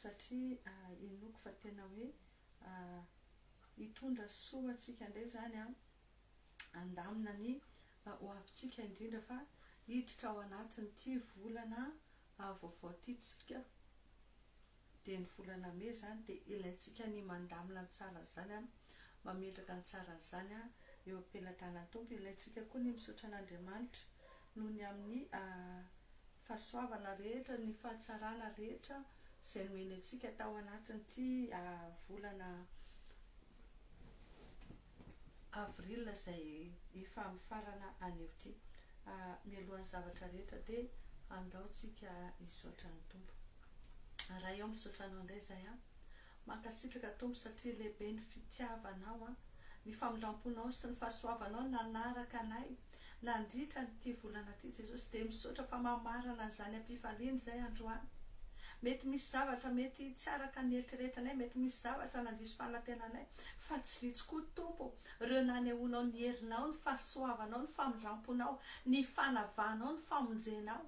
satria inoako fa tena hoe hitondra soa ho antsika indray izany an, handamina ny ho avintsika indrindra fa hiditra ao anatin'ity volana vaovao ity tsika dia ny volana mey izany dia ilaintsika ny mandamina ny tsara an'izany an, mametraka ny tsara an'izany an eo am-pelatanan'ny Tompo, ilaintsika koa ny misaotra an'Andriamanitra noho ny amin'ny fahasoavana rehetra, ny fahatsarana rehetra izay nomeny antsika tao anatin'ity volana avril izay efa mifarana anio ity. Mialohan'ny zavatra rehetra dia andaotsika hisaotra ny Tompo. Ray ô, misaotra Anao indray izahay an. Mankasitraka Tompo satria lehibe ny fitiavanao an! Ny famindramponao sy ny fahasoavanao nanaraka anay nandritra an'ity volana ty Jesosy dia misaotra fa mamarana an'izany ampifaliana izay androany. Mety misy zavatra mety tsy araka ny eritreretinay, mety misy zavatra nandiso fanantenanay fa tsy vitsy koa Tompo reo nanehoanao ny herinao, ny fahasoavanao, ny famindramponao, ny fanavahanao, ny famonjenao.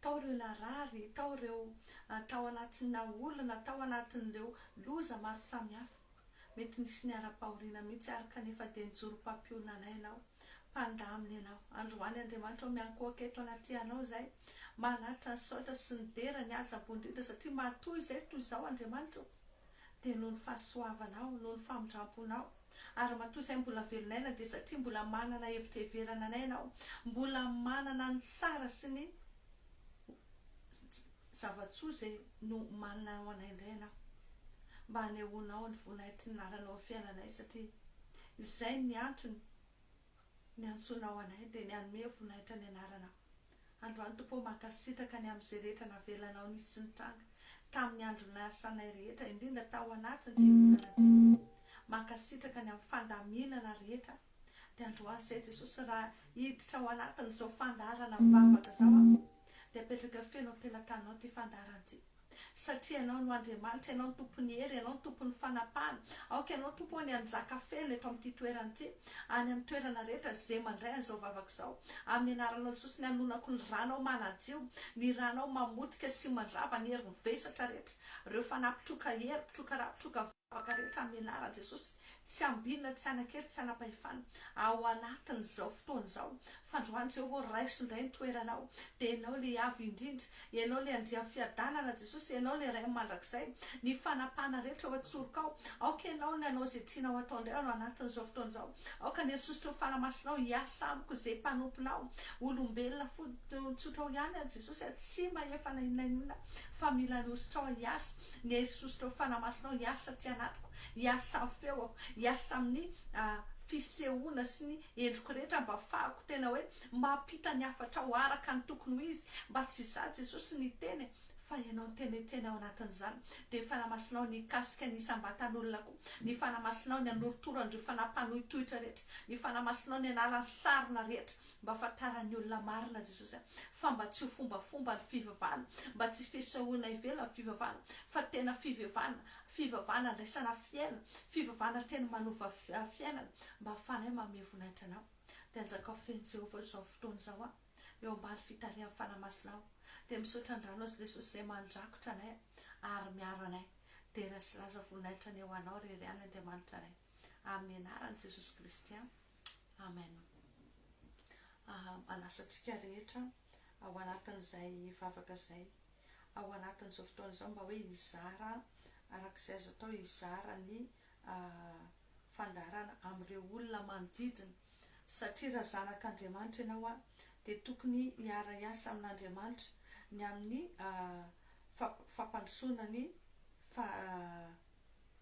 tao ireo narary, tao ireo tao anatinà olana, tao anatin'ireo loza maro samihafa. Mety nisy niharam-pahoriana mihitsy àry kanefa dia nijoro mpampionanay ianao, mpandamina ianao. Androany Andriamanitra ao miankohoka eto anatrehanao izay, manatitra ny saotra sy ny dera, ny hajabo indrindra satria matoa izay toy izao Andriamanitra ô! Dia noho ny fahasoavanao, noho ny famindramponao, Ary ramatoa izay mbola velona ela dia satria mbola manana hevitra heverana anay ianao, mbola manana ny tsara sy ny zava-tsoa izay nomanina ho anay indray ianao, mba hanehoanao ny voninahitry ny lalanao amin'ny fiainanay satria izay ny antony niantsoanao anay dia ny hanome voninahitra ny anaranao. Androany Tompo ô mankasitraka ny amin'izay rehetra navelanao nisy sy nitranga tamin'ny andro niasanay rehetra indrindra tao anatin'ity volana ity mankasitraka ny amin'ny fandaminana rehetra dia androany zay Jesosy raha hiditra ao anatin'izao fandaharana mivavaka zao aho dia apetraka feno am-pelatananao ity fandaharana ity Satria Ianao no Andriamanitra, Ianao no Tompon'ny hery, Ianao no Tompon'ny fanapahana. Aoka Ianao, Tompo ô, ny hanjaka feno eto amin'ity toerana ity, any amin'ny toerana rehetra, izay mandray an'izao vavaka izao. Amin'ny Anaranao Jesosy no ianonako ny Ranao manadio, ny Ranao mamotika sy mandrava ny herin'ny vesatra rehetra, ireo fanahy mpitroka hery, mpitroka ra, mpitroka vava, Afaka rehetra amin'ny anaran'i Jesosy. Tsy ambinina, tsy hanakely, tsy hanam-pahefana. Ao anatin'izao fotoana izao, fandroan'i Jehovah ho raiso indray ny toeranao. Dia ianao ilay Avo Indrindra. Ianao ilay Andrian'ny fiadanana, Jesosy. Ianao ilay Ray mandrakizay. Ny fanapahana rehetra eo an-tsorokao. Aoka ianao ny hanao izay tianao hatao indray ao anatin'izao fotoana izao. Aoka ny hasosotra ho fanamasonao hiasa amiko izay mpanomponao. Olombelona fotsiny tsotra ao ihany aho Jesosy a, tsy mahefa na inona na inona fa mila ny hosotrao aho hiasa, ny hery sosotra ho fanamasinao hiasa aty anatiko, hiasa amin'ny feoko, hiasa amin'ny fisehoana sy ny endriko rehetra mba hafahako tena hoe mampita ny hafatrao araka ny tokony ho izy, mba tsy izaho Jesosy ny hiteny e. Fa ianao ny tena Etiena ao anatin'izany, dia ny Fanahy Masinao nikasika ny isam-batan'olona koa, ny Fanahy Masinao ny hanorotoro an'ireo fanahy mpanohitohitra rehetra, ny Fanahy Masinao ny hanala ny sarona rehetra, mba hahafantaran'ny olona marina Jesosy a, fa mba tsy ho fombafomba ny fivavahana, mba tsy fisehoana ivelan'ny fivavahana, fa tena fivevana, fivavahana andraisana fiainana, fivavahana tena manova fiainana, mba hahafahanay mamehy voninahitranao. Dia anjakao feno Jehovah izao fotoana izao a. eo ambany fitarihan'i Fanahy Masina aho dia misaotra an-drano azy Lesosy izay mandrakotra anay ary miaro anay dera sy laza voninahitra ny ho anao ry ry any Andriamanitra anay amin'ny anaran'i Jesosy Kristy Amen Aha manasa antsika rehetra ao anatin'izay vavaka izay ao anatin'izao fotoana izao mba hoe hizara araka izay azo atao hizara ny fandaharana amin'ireo olona manodidina. Satria raha zanak'Andriamanitra ianao dia tokony hiara-hiasa amin'Andriamanitra ny amin'ny fampandrosoana ny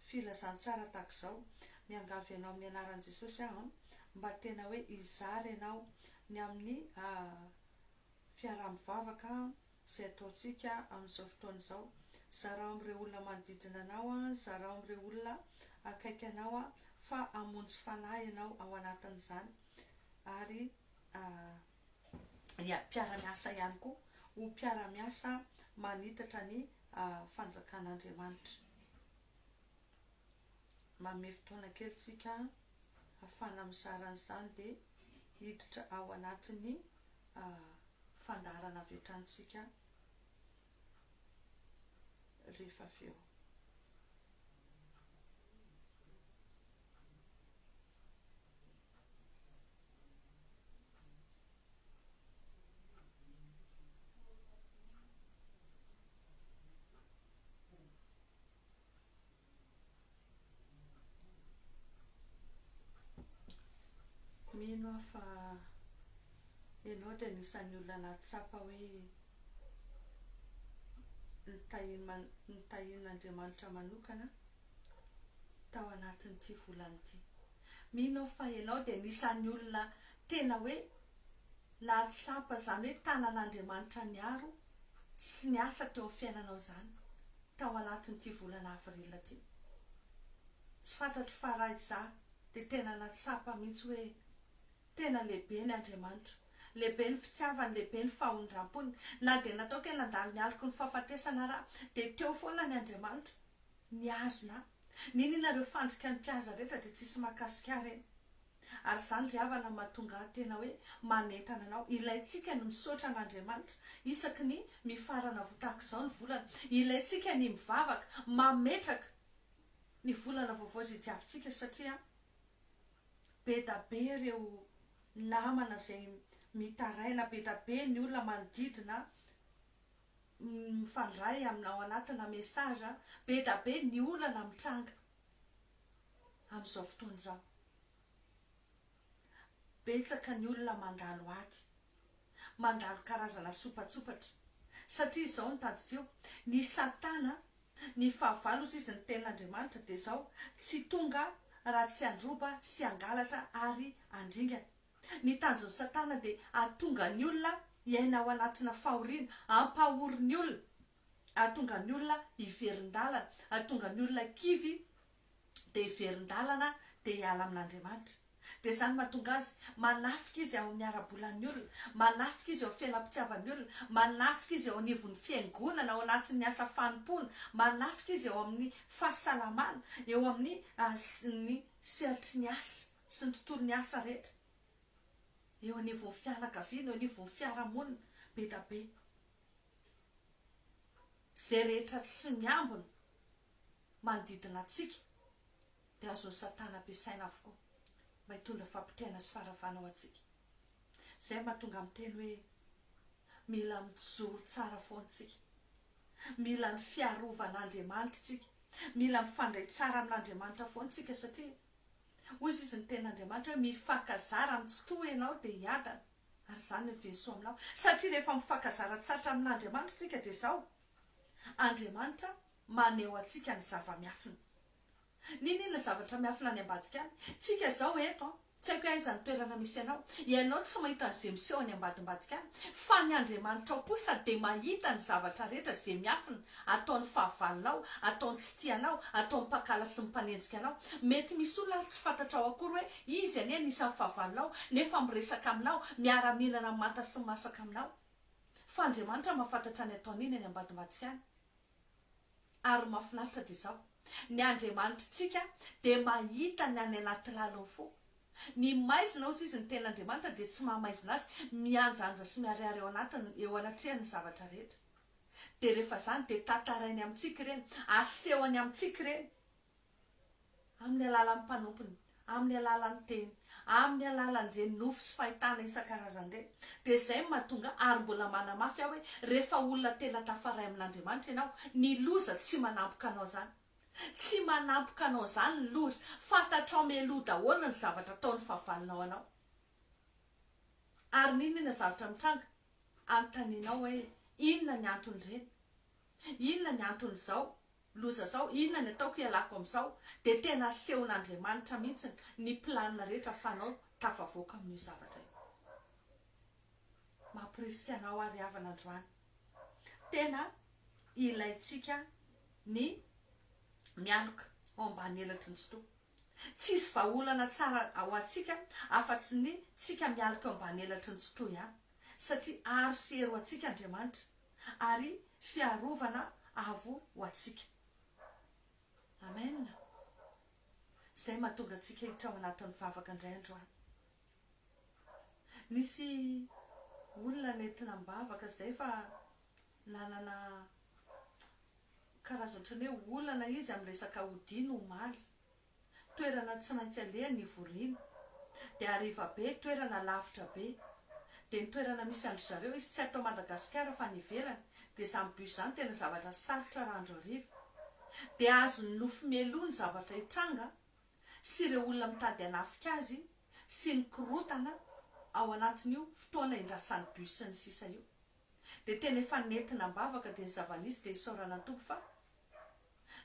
filazantsara tahaka izao, Miangavy ianao amin'ny anaran'i Jesosy aho mba tena hoe hizara ianao ny amin'ny fiaraha-mivavaka. izay ataontsika amin'izao fotoana izao. Zarao amin'ireo olona manodidina anao, zarao amin'ireo olona akaiky anao fa hamonjy fanahy ianao ao anatin'izany, ary ny mpiara-miasa ihany koa ho mpiara-miasa manitatra ny Fanjakan'Andriamanitra. manome fotoana kely tsika hafana mizara an'izany dia hiditra ao anatin'ny fandaharana avy hatrany tsika rehefa avy eo. Mino aho fa ianao dia anisan'ny olona nahatsapa hoe notahian'Andriamanitra manokana tao anatin'ity volana ity. Mino aho fa ianao dia anisan'ny olona tena hoe nahatsapa izany hoe tanan'Andriamanitra niaro sy ny asa teo amin'ny fiainanao izany tao anatin'ity volana avril ity. Tsy fantatro fa raha izaho dia tena nahatsapa mihitsy hoe tena lehibe ny Andriamanitra, lehibe ny fitiavany, lehibe ny fahondrampony. Na dia nataoko hoe nandalo ny aliko ny fahafatesana ary aho dia teo foana ny Andriamanitra nihazona ahy. Niniana ireo fandrikan'ny mpihaza rehetra dia tsisy mahakasika ahy ireny. Ary izany ry havana no mahatonga ahy tena hoe manentana anao. Ilaintsika ny misaotra an'Andriamanitra isaky ny mifarana vo tahaka izao ny volana. Ilaintsika ny mivavaka mametraka ny volana vaovao izay diavintsika satria be da be ireo namana izay mitaraina, be da be ny olona manodidina mifandray aminao anatina message, be da be ny olana mitranga. Amin'izao fotoana izao, betsaka ny olona mandalo ady, mandalo karazana sopatsopatra, satria izao no tadidio, ny satana, ny fahavalo hozy izy ny tenin'Andriamanitra dia izao, tsy tonga raha tsy handroba sy hangalatra ary handringana. Ny tanjon'i satana dia hahatonga ny olona hiaina ao anatina fahoriana, hampahory ny olona, hahatonga ny olona hiverin-dalana, hahatonga ny olona kivy dia hiverin-dalana dia hiala amin'Andriamanitra. Dia izany mahatonga azy manafika izy ao amin'ny ara-bolan'ny olona, manafika izy eo amin'ny fiainam-pitiavan'ny olona, manafika izy eo anivon'ny fiangonana, ao anatin'ny asa fanompoana, manafika izy eo amin'ny fahasalamana, eo amin'ny ny sehatry ny asa sy ny tontolon'ny asa rehetra, eo anivon'ny fianakaviana, eo anivon'ny fiarahamonina be dia be. Izay rehetra tsy miambina manodidina antsika dia azon'i Satana ampiasaina avokoa mba hitondra fampitaina sy faharavana ho antsika. Izay no mahatonga miteny hoe mila mijoro tsara foana isika, mila ny fiarovan'Andriamanitra isika, mila mifandray tsara amin'Andriamanitra foana isika satria hoy izy ny tenin'Andriamanitra hoe mifankazara amin'ny tsitoha ianao dia hiadana. Ary izany ny version aminao. Satria rehefa mifankazaran-tsatra amin'Andriamanitra isika dia izao, Andriamanitra maneho antsika ny zava-miafina. Nini ilay zavatra miafina any ambadika any? Tsika izao eto an, tsy haiko hoe aiza ny toerana misy anao, ianao tsy mahita an'izay miseho any ambadimbadika any, fa ny Andriamanitra ao kosa dia mahita ny zavatra rehetra izay miafina Ataon'ny fahavalonao, ataon'ny tsy tia anao, ataon'ny mpankala sy ny mpanenjika anao. Mety misy olona ary tsy fantatrao akory hoe izy anie anisan'ny fahavalonao, nefa miresaka aminao, miara-mihinana manta sy masaka aminao. Fa Andriamanitra mahafantatra ny ataon'iny any ambadimbadika any. Ary ny mahafinaritra dia izao, ny Andriamanitritsika dia mahita ny any anaty lalin'ny fo. Ny maizina, hoy izy, ny Tenin'Andriamanitra dia tsy maha-maizina azy, mihanjanja sy miharihary eo anatiny, eo anatrehany ny zavatra rehetra. dia rehefa izany dia tantarainy amintsika ireny, asehony amintsika ireny amin'ny alalan'ny mpanompony, amin'ny alalan'ny teny, amin'ny alalan'ireny nofy sy fahitana isan-karazany ireny, dia izay no mahatonga ary mbola manamafy aho hoe rehefa olona tena tafaray amin'Andriamanitra ianao, ny loza tsy manampoka anao izany. Tsy manampoka anao izany ny loza, fantatrao mialoha daholo ny zavatra ataon'ny fahavalonao anao. Ary n'inon'inona zavatra mitranga, anontanianao hoe, Inona ny anton'ireny? Inona ny anton'izao loza izao? Inona ny ataoko hialako amin'izao? Dia tena asehon'Andriamanitra mihitsy ny planina rehetra fanao tafavoaka amin'io zavatra io. Mamporisika anao àry havana androany. Tena ilaintsika ny mialoka ao ambany elatry ny Sotoa. Tsisy vahaolana tsara ho antsika afa-tsy ny tsika mialoka eo ambany elatry ny tsitoha ihany, satria aro sy hery ho antsika Andriamanitra, ary fiarovana avo ho antsika. Amen! Izay mahatonga antsika hiditra ao anatin'ny vavaka indray androany. Nisy olona nentina am-bavaka izay fa Nanana karazana ohatran'ny hoe olana izy amin'ny resaka odiany omaly. Toerana tsy maintsy alehany ny voriana. Dia hariva be, toerana lavitra be. Dia ny toerana misy an-dry zareo, izy tsy ato Madagasikara fa any ivelany. Dia izany bus izany tena zavatra sarotra raha andro hariva. Dia azon'ny nofy mialoha ny zavatra hitranga sy ireo olona mitady hanafika azy sy ny korotana ao anatin'io fotoana hindrasan'ny bus sy ny sisa io. dia tena efa nentina am-bavaka dia ny zava-nisy dia isaorana ny Tompo fa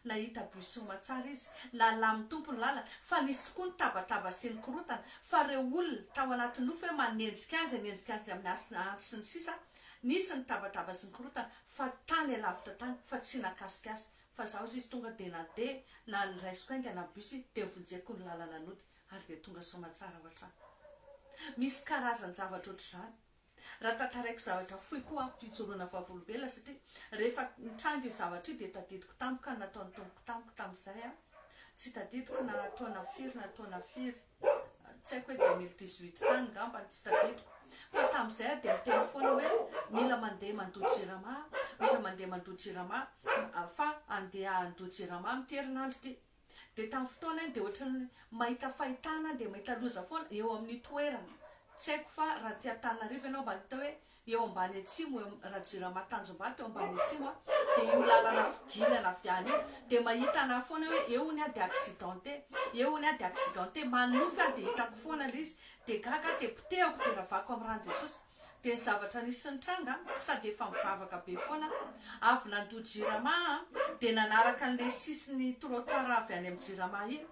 nahita bus soamatsara izy, nalamin' ny Tompo ny lalana, fa nisy tokoa ny tabataba sy ny korotana, fa ireo olona tao anaty nofy hoe manenjika azy hanenjika azy amin' ny hasina antsy sy ny sisa, nisy ny tabataba sy ny korotana fa tany alavitra tany fa tsy nakasika azy, fa za ozy izy tonga dia nandeha na ny raisiko haingana ny bus dia novonjeko ny lalana nody ary dia tonga soamatsara ao an-trano. Misy karazan-javatra ohatr'izany. Raha tantaraiko zavatra fohy koa aho, fijoroana vavolombelona, satria rehefa nitranga io zavatra io dia tadidiko tampoka ny nataon'ny Tompoko tamiko tamin'izay an! Tsy tadidiko na taona firy na taona firy, tsy haiko hoe deux mille dix huit tany ngamba, tsy tadidiko. Fa tamin'izay aho dia miteny foana hoe mila mandeha mandoa jirama aho, mila mandeha mandoa jirama aho, fa handeha handoa jirama aho amin'ity herinandro ity. dia tamin'ny fotoana iny dia ohatran'ny mahita fahitana dia mahita loza foana eo amin'ny toerana, tsy haiko fa raha aty Antananarivo ianao mba hita hoe eo ambany atsimo eo amin'ny raha jirama Tanjombato eo ambany atsimo an, dia io lalana fidinana avy any io dia mahita anah foana hoe eo ny aho dia accidenté, eo ny aho dia accidenté, manonofy aho dia hitako foana ilay izy dia gaga aho dia potehako dia ravako amin'ny ràn'i Jesosy, dia ny zavatra nisy sy nitranga sady efa mivavaka be foana aho, avy nandoa jirama aho dia nanaraka an'ilay sisin'ny trottoir avy any amin'ny jirama iny,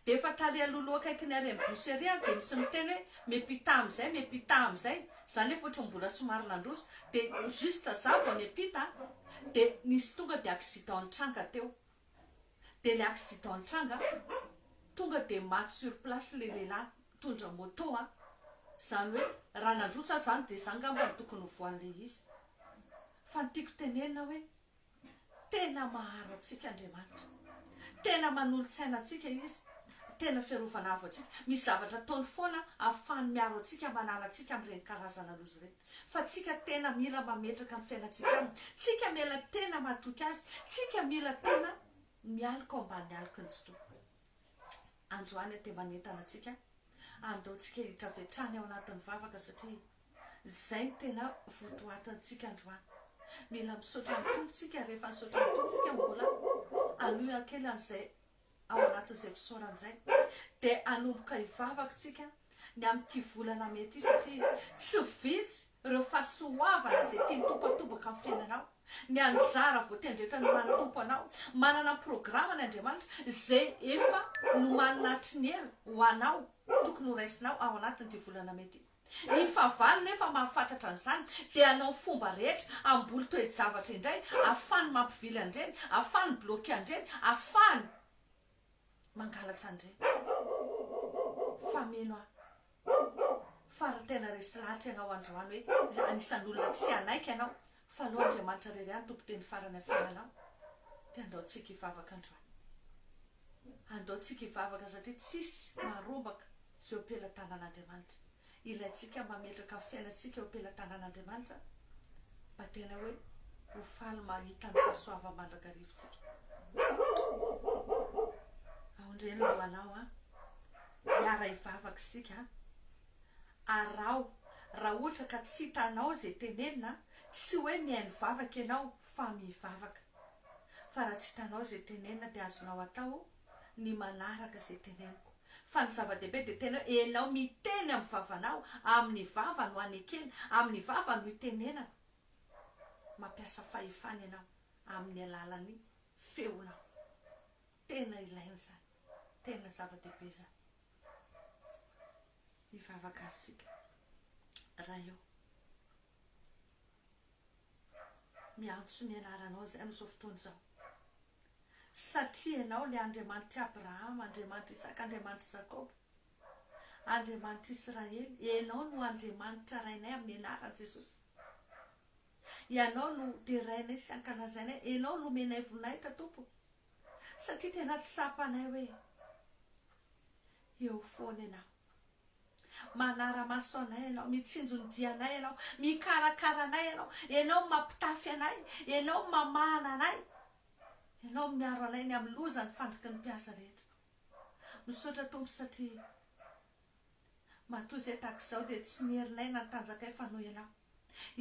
dia efa tary alohaloha akaiky ny arrêt-n'ny bus ery aho dia misy miteny hoe mais pita amin'izay, mais pita amin'izay, za nefa ohatran'ny mbola somary nandroso, dia juste za vao niampita dia nisy tonga dia accident nitranga teo. dia ilay accident nitranga tonga dia maty sur place ilay lehilahy nitondra moto an! izany hoe raha nandroso aza izany dia izany angamba no tokony ho voan'ilay izy fa ny tiako tenenina hoe tena maharo antsika Andriamanitra tena manolo-tsaina antsika izy tena fiarovana avo antsika misy zavatra ataony foana ahafahany miaro antsika manala antsika amin'ireny karazana loza ireny Fa tsika tena mila mametraka ny fiainantsika aminy, tsika mila tena matoky azy, tsika mila tena mialoka ao ambany aloky ny Tompo. Androany aty manentana antsika, andao tsika hitrafy hatrany ao anatin'ny vavaka satria zay no tena votoatintsika androany. Mila misaotra ny Tompo tsika, rehefa nisaotra ny Tompo tsika mbola hanohy hakely an'izay ao anatin'izay fisaorana izay dia hanomboka hivavaka isika ny amin'ity volana mey ity satria tsy vitsy ireo fahasoavana izay tian'ny Tompo hatomboka amin'ny fiainanao, ny anjara voatendretra noman'ny Tompo anao. Manana programa ny Andriamanitra izay efa nomanina hatry ny ela ho anao tokony horaisinao ao anatin'ity volana mey ity. Ny fahavalo nefa mahafantatra an'izany dia hanao fomba rehetra hamboly toe-javatra indray ahafahany mampivily an'ireny, ahafahany mi-bloquer an'ireny, ahafahany mangalatra an'ireny. Fa mino aho fa raha tena resy lahatra ianao androany hoe anisan'ny olona tsy hanaiky ianao Fa lo Andriamanitra rery any Tompo teny farany a fialao de andao tsika ivavaka androany andao tsika ivavaka satria tsisy maharombaka ze eo pelatanana Andriamanitra ilaintsika mametraka fiainantsika eo pelatanana Andriamanitra mba tena hoe ho faly mahita ny fahasoavan mandrakarivo tsika aondreny lohalao a hiara hivavaka isika a Araho, raha ohatra ka tsy hitanao izay tenenina, tsy hoe mihaino vavaka ianao fa mivavaka. Fa raha tsy hitanao izay tenenina dia azonao atao ny manaraka izay teneniko. Fa ny zava-dehibe dia tena hoe ianao miteny amin'ny vavanao, amin'ny vava no hanekena, amin'ny vava no hitenenako. Mampiasa fahefana ianao amin'ny alalan'ny feonao. Tena ilaina izany. Tena zava-dehibe izany. Hivavaka isika. Ray ô. Miantso ny anaranao izahay amin'izao fotoana izao. Satria Ianao ilay Andriamanitr'i Abrahama, Andriamanitr'i Isaka, Andriamanitr'i Jakoba, Andriamanitr'i Israely. Ianao no Andriamanitra Rainay amin'ny anaran'i Jesosy. Ianao no derainay sy ankalazainay. Ianao no omenay voninahitra, Tompo. satria tena tsapanay hoe eo foana ianao, manara-maso anay ianao, mitsinjo ny dianay ianao, mikarakara anay ianao, ianao mampitafy anay, ianao mamahana anay, ianao miaro anay ny amin'ny loza ny fandriky ny mpiasa rehetra. Misaotra Tompo satria. Matoa izay tahaka izao dia tsy ny herinay na ny tanjakay fa noho ianao.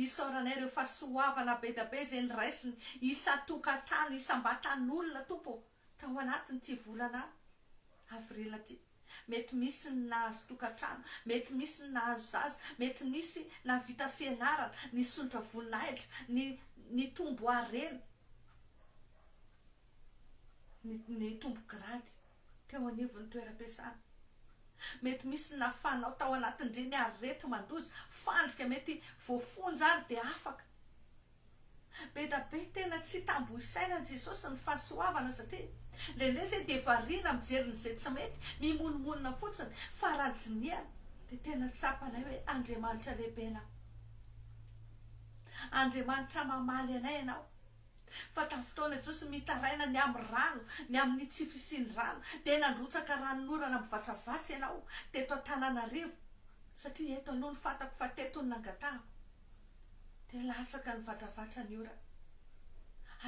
Isaoranay ireo fahasoavana bedabe izay noraisiny isan-tokantrano, isam-batan'olona, Tompo ô, tao anatin'ity volana avril ity. Mety misy ny nahazo tokantrano, mety misy ny nahazo zaza, mety nisy nahavita fianarana, nisondrotra voninahitra, ni, nitombo harena. nitombo grady teo anivon'ny toeram-piasana. Mety misy ny nafanao tao anatin'ireny areti-mandoza, fandrika mety voafonja ary dia afaka. Be da be tena tsy tambo isaina an'i Jesosy ny fahasoavana satria indraindray izay dia variana mijery ny izay tsy mety, mimonomonona fotsiny fa raha dinihana dia tena tsapanay hoe Andriamanitra lehibe ianao. Andriamanitra mamaly anay ianao Fa tamin'ny fotoana Jesosy mitaraina ny amin'ny rano, ny amin'ny tsy fisian'ny rano, dia nandrotsaka ranon'orana mivatravatra ianao teto Antananarivo, satria eto aloha no fantako fa teto no nangatahako, dia latsaka nivatravatra ny orana.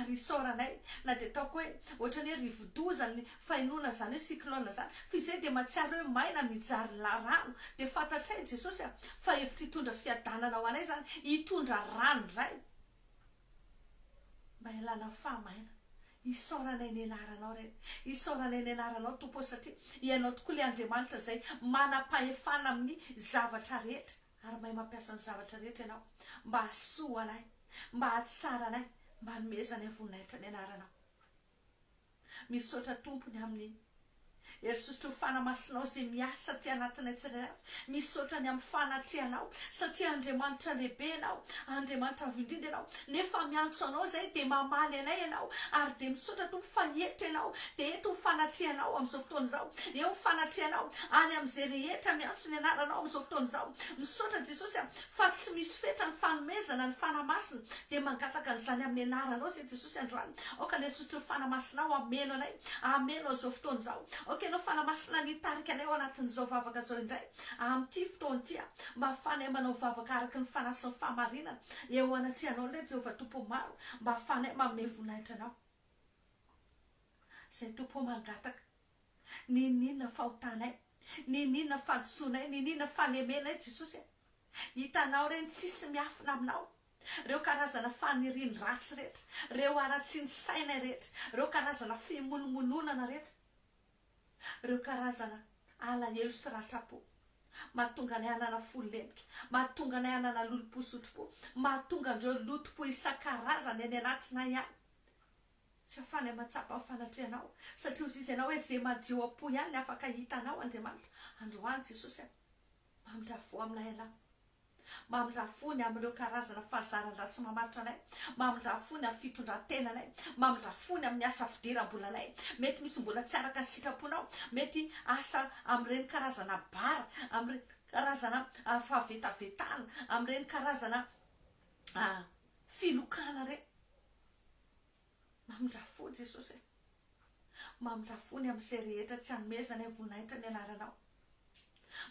Ary isaoranay na dia ataoko hoe ohatran'ny hoe rivodoza ny fainoana an'izany hoe cyclone izany, fa izay dia mahatsiaro hoe maina mijary la rano, dia fantatray Jesosy fa hevitra hitondra fiadanana ho anay izany, hitondra rano indray. Mba hialana fahamaina. Isaoranay ny anaranao re. Isaoranay ny anaranao Tompo ô satria Ianao tokoa ilay Andriamanitra izay manam-pahefana amin'ny zavatra rehetra ary mahay mampiasa ny zavatra rehetra Ianao mba hahasoa anay, mba hahatsara anay, mba hanomezanay voninahitra ny anaranao. Misaotra tompony aminy herisotrofana masinao izay miasa aty anatinay tsirairay avy. Misaotra ny amin'ny fanatrehanao satria Andriamanitra lehibe ianao, Andriamanitra avo indrindra ianao nefa miantso anao izay dia mamaly anay ianao ary dia misaotra Tompo fa eto ianao dia eto ny fanatrehanao amin'izao fotoana izao. Eo ny fanatrehanao any amin'izay rehetra miantso ny anaranao amin'izao fotoana izao. Misaotra Jesosy a fa tsy misy fetra ny fanomezana ny Fanahy Masina dia mangataka an'izany amin'ny anaranao izay Jesosy androany. Aoka ilay zotry ny Fanahy Masina hameno anay, hameno an'izao fotoana izao. Aoka Ianao Fanahy Masina ny hitarika anay ao anatin'izao vavaka izao indray, amin'ity fotoana ity, mba hahafahanay manao vavaka araka ny Fanahy sy ny fahamarinana, eo anatrehanao ilay Jehovah Tompo maro, mba hahafahanay manome voninahitra Anao. Izay Tompo ô mangataka, ninoninona fahotanay, ninoninona fahadisoanay, ninoninona falemenay Jesosy a! Hitanao ireny tsisy miafina Aminao. reo karazana fanirian dratsy rehetra, reo haratsian saina rehetra, reo karazana fimolomolonana rehetra, reo karazana alahelo sy ratra po mahatonga anay hanana fo lentika, mahatonga anay hanana lolompo sotropo, mahatonga andreo lotompo isankarazany any anatsinay any, tsy afanay matsapa ny fanatrehanao, satria ozizy ianao hoe ze majio apo ihany ny afaka hita anao Andriamanitra, androany Jesosy a, mamindrafo aminay ialahy, Mamindrà fony amin'ireo karazana fahazaran-dratsy mamaritra anay, mamindrà fony amin'ny fitondran-tenanay, mamindrà fony amin'ny asa fidiram-bolanay, mety misy mbola tsy araka ny sitraponao, mety asa amin'ireny karazana bar, amin'ireny karazana fahavetavetana, amin'ireny karazana filokana ireny. Mamindra fo Jesosy e. Mamindra fo ny amin'izay rehetra tsy anomezanay voninahitra ny anaranao.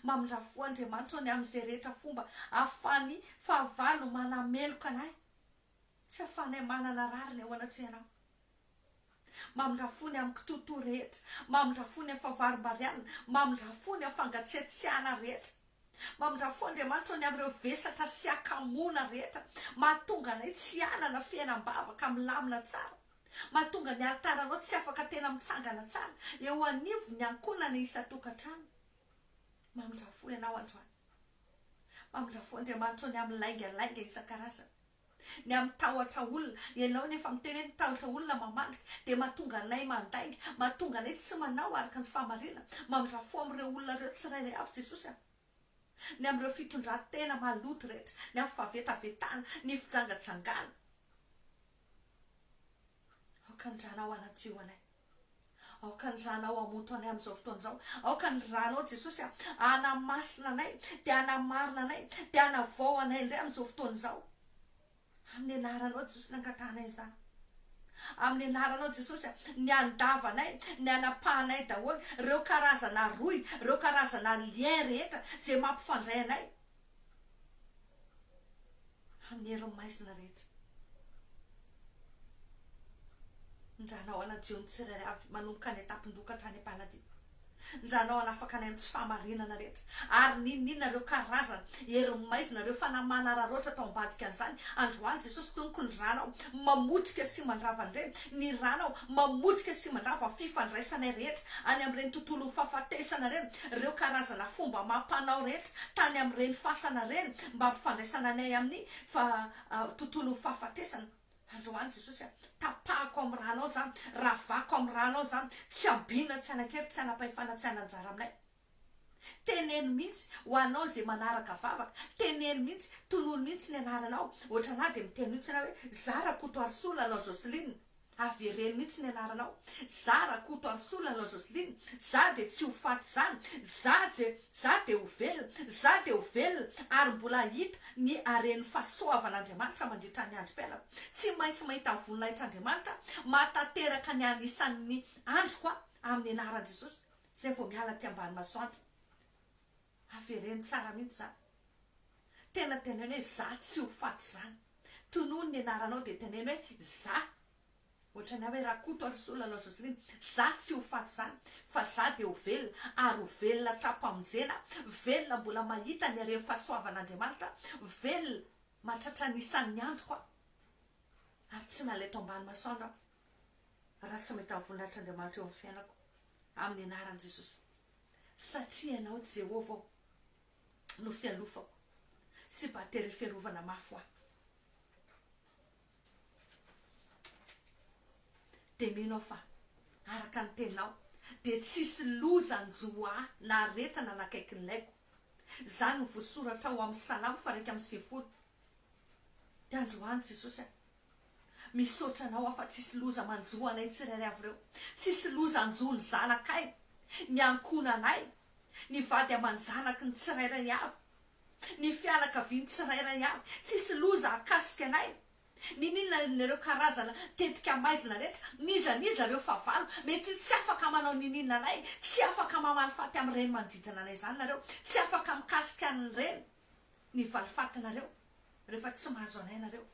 Mamindra fo Andriamanitra o ny amin'izay rehetra fomba ahafahan'ny fahavalo manameloka anay tsy ahafahanay manana rariny ao anatrehanao. Mamindra fo ny amin'ny kitoatoa rehetra. Mamindra fo ny amin'ny fahavarombarianina. Mamindra fo ny amin'ny fangatsiatsiahana rehetra. Mamindrà fo Andriamanitra ny amin'ireo vesatra sy hakamoana rehetra mahatonga anay tsy hanana fiainam-bavaka milamina tsara, mahatonga ny alitaranao tsy afaka tena mitsangana tsara eo anivon'ny ankohonana isan-tokantrano. Mamindrà fo Ianao androany. Mamindrà fo Andriamanitra ny amin'ny laingalainga isan-karazany. ny amin'ny tahotra olona, ianao nefa miteny hoe ny tahotra olona mamandrika dia mahatonga anay mandainga, mahatonga anay tsy manao araka ny fahamarinana, mamindra fo amin'ireo olona ireo tsirairay avy Jesosy a! ny amin'ireo fitondran-tena maloto rehetra, ny amin'ny fahavetavetana, ny fijangajangana, aoka handranao anadio anay. Aoka ny ranao hamoto anay amin'izao fotoana izao. Aoka ny ranao Jesosy hanamasina anay, dia hanamarina anay, dia hanavao anay indray amin'izao fotoana izao. Amin'ny anaranao Jesosy ny angatahanay izany. Amin'ny anaranao Jesosy ny andavanay, ny anapahanay daholo, ireo karazana rohy, ireo karazana lien rehetra izay mampifandray anay. Hamero ny maizina rehetra. Ny Ranao hanadio ny tsirairay avy manomboka any an-tampon-doha ka hatrany am-paladia. Ny Ranao hanafaka anay amin'ny tsy fahamarinana rehetra. Ary n'inon'inona ireo karazana herin'ny maizina, ireo fanahy manararaotra atao ambadika an'izany, androany Jesosy Tompoko, ny Ranao mamotika sy mandrava an'ireny. Ny Ranao mamotika sy mandrava ny fifandraisanay rehetra any amin'ireny tontolon'ny fahafatesana ireny, ireo karazana fomba amam-panao rehetra. tany amin'ireny fasana ireny mba hampifandraisana anay amin'ny tontolon'ny fahafatesana. Androany Jesosy a! Tapahako amin'ny ranao izany, ravako amin'ny ranao izany, tsy habiana, tsy hanan-kery, tsy hanam-pahefana, tsy hanan-jara aminay. Teneno mihitsy ho anao izay manaraka vavaka, teneno mihitsy, tonony mihitsy ny anaranao, ohatranà dia miteny mihitsy ianao hoe, Za Rakotoarisoa, Lalao Jocelyne. Avereno mihitsy ny anaranao. Za Rakoto Arsolo anao Jocelyne, za dia tsy ho faty izany, za je, za dia ho velona, za dia ho velona ary mbola hahita ny haren'ny fahasoavan'Andriamanitra mandritra ny androm-piainako. Tsy maintsy mahita voninahitr'Andriamanitra mahatanteraka ny anisan'ny androko aho amin'ny anaran'i Jesosy, izay vao miala aty ambany masoandro. Avereno tsara mihitsy zany. Tena teneno hoe za tsy ho faty zany. Tonony ny anaranao dia teneno hoe za. Ohatrany aho hoe Rakoto ary Sola anao Jocelyne. Za tsy ho faty zany fa za dia ho velona ary ho velona hatram-pamonjena, velona mbola mahita ny haren'ny fahasoavan'Andriamanitra, velona mahatratra ny isan'ny androko aho. Ary tsy nalaito ambany masoandro aho. raha tsy mahita ny voninahitr'Andriamanitra eo amin'ny fiainako, amin'ny anaran'i Jesosy. Satria Ianao, Jehovah ô, no fialofako sy batery fiarovana mafy ho ahy. Dia mino aho fa, araka ny Teninao, dia tsy hisy loza hanjo ahy na aretina hanakaiky ny laiko. Izany no voasoratra ao amin'ny Salamo faha iraika amby sivifolo. Dia androany, Jesosy a, Misaotra anao aho fa tsisy loza manjo anay tsirairay avy ireo, tsisy loza hanjo ny zanakay, ny ankohonanay, ny vady aman-janaky ny tsirairay avy, ny fianakavian'ny tsirairay avy, tsisy loza hakasika anay, n'inon'inona ireo karazana tetika maizina rehetra, n'iza n'iza ireo fahavalo, mety ho tsy afaka manao n'inon'inona anay, tsy afaka mamaly faty amin'ireny manodidina anay izany nareo, tsy afaka mikasika an'ireny. ny valifatinareo rehefa tsy mahazo anay nareo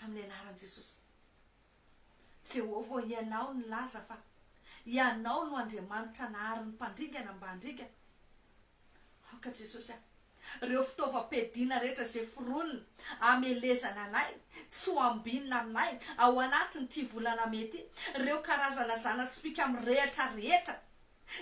amin'ny anaran'i Jesosy Jehovah ô ianao nilaza fa ianao no Andriamanitra nahary ny mpandringana mba handringana aoka Jesosy a reo fitaovam-piadiana rehetra izay foronina amelezana anay tsy ho ambinina aminay ao anatin'ity volana mey ity reo karazana zana-tsipìka mirehatra rehetra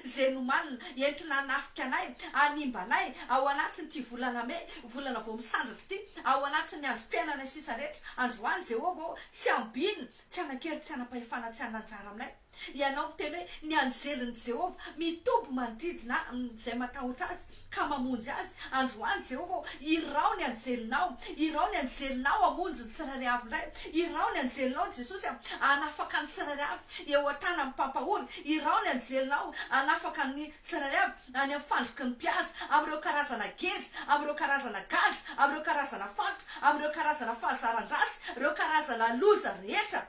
Izay nomanina, entina hanafika anay, hanimba anay, ao anatin'ity volana mey, volana vao misandratra ity, ao anatin'ny androm-piainanay sisa rehetra, androany, Jehovah ô, tsy hambinina, tsy hanan-kery, tsy hanam-pahefana, tsy hanana anjara aminay. Ianao miteny hoe, Ny anjelin'i Jehovah mitoby manodidina ahy, amin'izay matahotra azy. ka mamonjy azy, androany, Jehovah ô, irao ny anjelinao, irao ny anjelinao hamonjy ny tsirairay avy indray, irao ny anjelinao, Jesosy a, hanafaka ny tsirairay avy eo an-tanan'ny mpampahory, irao ny anjelinao hanafaka ny tsirairay avy any amin'ny fandriky ny mpihaza, amin'ireo karazana geja, amin'ireo karazana gadra, amin'ireo karazana fatotra, amin'ireo karazana fahazaran-dratsy, ireo karazana loza rehetra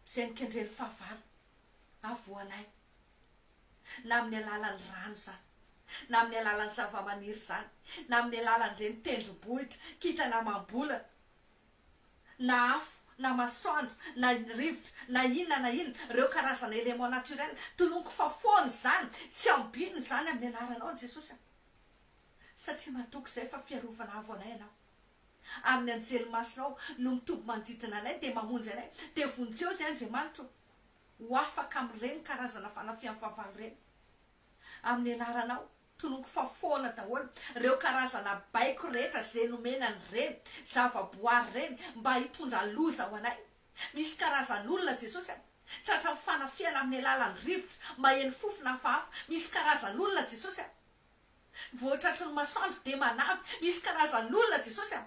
izay mikendren'ny fahavalo havoanay. na amin'ny alalan'ny rano izany, na amin'ny alalan'ny zavamaniry izany, na amin'ny alalan'ireny tendrombohitra, kintana amam-bolana, na afo, na masoandro, na rivotra, na inona na inona, ireo karazana éléments naturels, tononiko fa foana izany, tsy ambinina izany amin'ny anaranao Jesosy a! satria matoky izay fa fiarovana avo anay ianao, ary ny anjely masinao no mitoby manodidina anay dia mamonjy anay, dia vonjeo izay Andriamanitra o! ho afaka amin'ireny karazana fanafihan'ny fahavalo ireny. Amin'ny anaranao, tononiko fa foana daholo ireo karazana baiko rehetra izay nomena an'ireny zava-boary ireny mba hitondra loza ho anay. Misy karazan'olona, Jesosy a, tratran'ny fanafihana amin'ny alalan'ny rivotra maheno fofona hafahafa. Misy karazan'olona, Jesosy a. Vao tratry ny masoandro dia manavy. Misy karazan'olona Jesosy a!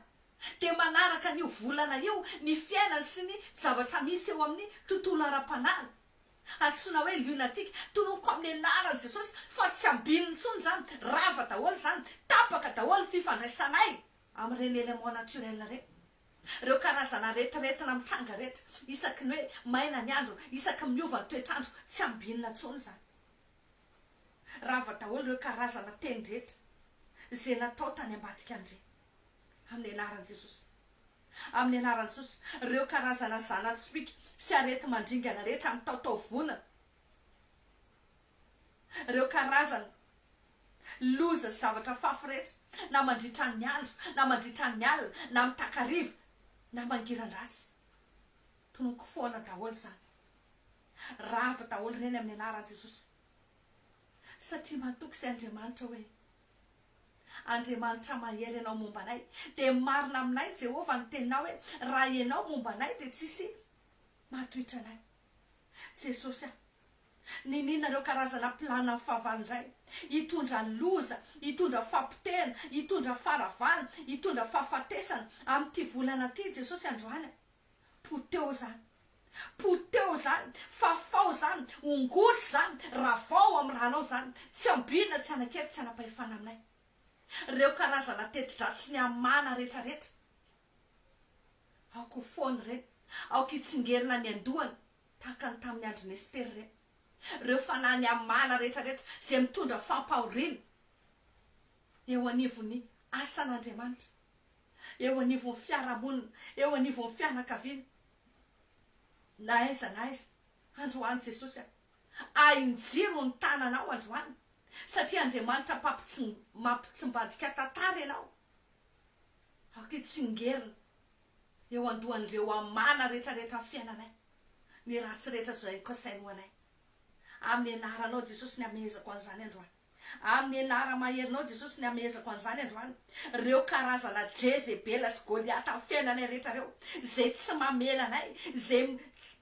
Dia manaraka an'io volana io ny fiainany sy ny zavatra misy eo amin'ny tontolo ara-panahiny. Antsoina hoe lunatique. Toloniko amin'ny anaran'i Jesosy fa tsy ambinina intsony izany. Rava daholo izany. Tapaka daholo ny fifandraisanay amin'ireny éléments naturels ireny. Ireo karazana aretiretina mitranga rehetra, isaky ny hoe maina ny andro, isaky miova ny toetr'andro, tsy ambinina intsony izany. Rava daholo ireo karazana teny rehetra izay natao tany ambadika andre. Amin'ny anaran'i Jesosy. Amin'ny anaran'i Jesosy. Ireo karazana zana-tsipìka sy areti-mandringana rehetra mitaotao vonona. Ireo karazana loza sy zavatra fafy rehetra na mandritra ny andro na mandritra ny alina na amin'ny takariva na mangiran-dratsy. Tomoko foana daholo izany. Ravo daholo ireny amin'ny anaran'i Jesosy. Satria matoky izay Andriamanitra hoe, Andriamanitra mahery ianao momba anay, dia marina aminay Jehovah ny teninao hoe, raha ianao momba anay dia tsisy mahatohitra anay. Jesosy a! Niniana ireo karazana planan'ny fahavalo indray. Hitondra loza, hitondra fahapotehana, hitondra faharavana, hitondra fahafatesana, amin'ity volana ity Jesosy androany a! Poteho zany. Poteho zany. Fafao zany. Ongoty zany. Ravao amin'ny ranao zany. Tsy ambinina, tsy anakely, tsy anapahefana aminay. Reo karazana teti-dratsy ny amana rehetra rehetra. Aoka ho foana reny. Aoka hitsingerina ny andohany tahaka ny tamin'ny andron'i Nespera reny. Reo fanahy ny amana rehetra rehetra zay mitondra fampahoriana eo anivon'ny asan'Andriamanitra. eo anivon'ny fiarahamonina, eo anivon'ny fianakaviana, na aiza na aiza, androany Jesosy a! Ahin-jiro ny tananao androany, satria Andriamanitra mampitsimbadika tantara ianao, aoka hitsingerina eo an-dohan'ireo amana rehetrarehetra fiainanay ny ratsy rehetra izay kasainy ho anay, amin'ny anaranao Jesosy ny hamehezako an'izany androany. Amin' ny anara maherinao Jesosy ny hamehezako an'izany androany, reo karazana Jezebela sy Goliata am fiainanay rehetra reo, zay tsy mamela anay, zay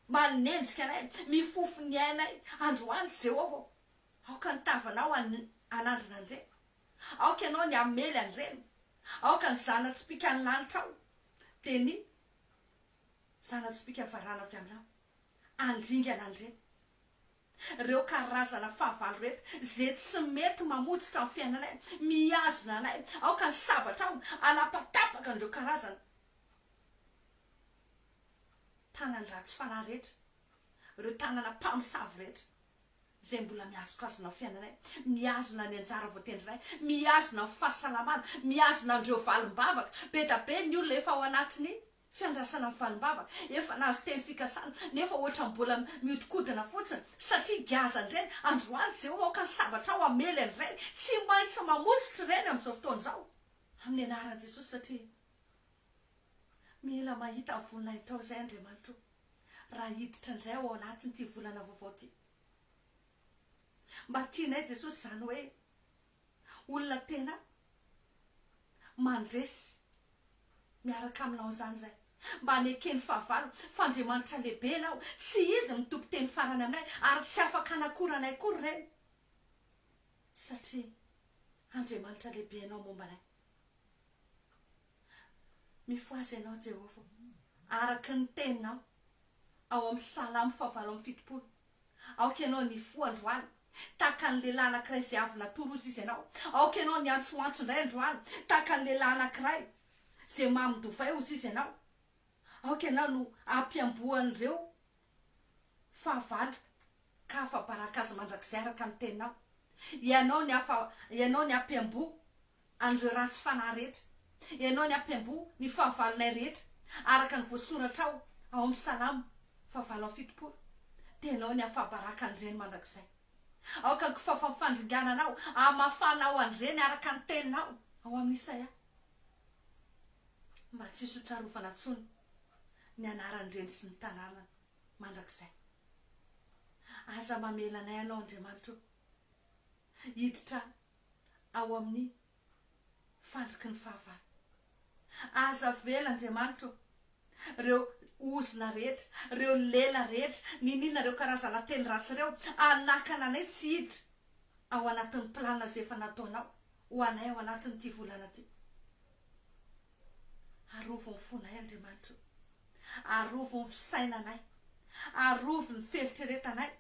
manenjika anay, mifofo ny ainay, androany Jéhovah ô, aoka ny tavanao hanandrina an'ireny, aoka ianao ny hamely an'ireny, aoka ny zana-tsipìka ny lanitrao, dia ny zana-tsipìka varana avy aminao, handringana an'ireny. reo karazana fahavalo reto ze tsy mety mamotsotra ny fiainanay mihazona anay aoka ny sabatra ao anapatapaka an'ireo karazana tanan-dratsy fanahy rehetra reo tanana mpamosavy rehetra ze mbola mihazokazona ny fiainanay mihazona ny anjara voatendrinay mihazona ny fahasalamana mihazona an'ireo valim-bavaka bedabe ny olona efa ao anatin'ny Fiandrasana valimbava efa nahazo teny fikasana nefa hoatra mbola miodikodina fotsiny satria giazan'ireny androany ze ho aoka ny sabatra ao hamely an'ireny tsy maintsy mamotsitra ireny amin'izao fotoana izao amin'ny anaran'i Jesosy satria mila mahita voninahitrao izay Andriamanitro raha hiditra indray ao anatin'ity volana vaovao ity mba tianay Jesosy izany hoe olona tena mandresy miaraka aminao izany izay mba anekeny fahavalo fa Andriamanitra lehibe ianao, tsy izy mitopy teny farany aminay ary tsy afaka hanakora anay akory ireny satria Andriamanitra lehibe ianao momba anay. Mifohaza ianao Jehovah araka ny teninao ao amin'ny Salamo fahavalo amby fitopolo, Aoka ianao ny hifoha androany tahaka ny lehilahy anankiray izay avy natory ozy izy ianao, aoka ianao ny hiantsoantso indray androany tahaka ny lehilahy anankiray izay mamin-dovay ozy izy ianao, aoka ianao no hampiamboan'ireo Fahavalo, ka afa-baraka Azy mandrakizay araka ny teninao. Ianao ny afa, Ianao ny ampiamboho an'ireo ratsy fanahy rehetra. Ianao ny ampiamboho ny fahavalonay rehetra, araka ny voasoratra ao, ao amin'ny Salamo faha valo amby fitopolo. Dia Ianao ny afa-baraka an'ireny mandrakizay. Aoka ny kofafan' ny fandringana Anao hamafana ao an'ireny araka ny teninao ao amin'ny Isaia, mba tsy hisy ho tsarovana intsony. ny anaran'ny reny sy ny tanàna mandrakizay. Aza mamela anay anao Andriamanitra o. Hiditra ao amin'ny fandriky ny fahavalo. Aza avela Andriamanitra o. Reo ozona rehetra, reo lela rehetra, niniana reo karazana teny ratsy reo hanakana anay tsy hiditra ao anatin'ny plan zay efa nataonao ho anay ao anatin'ity volana ty. Arovy ny fonay, Andriamanitra o. Arovy ny fisainanay. Arovy ny fieritreretanay,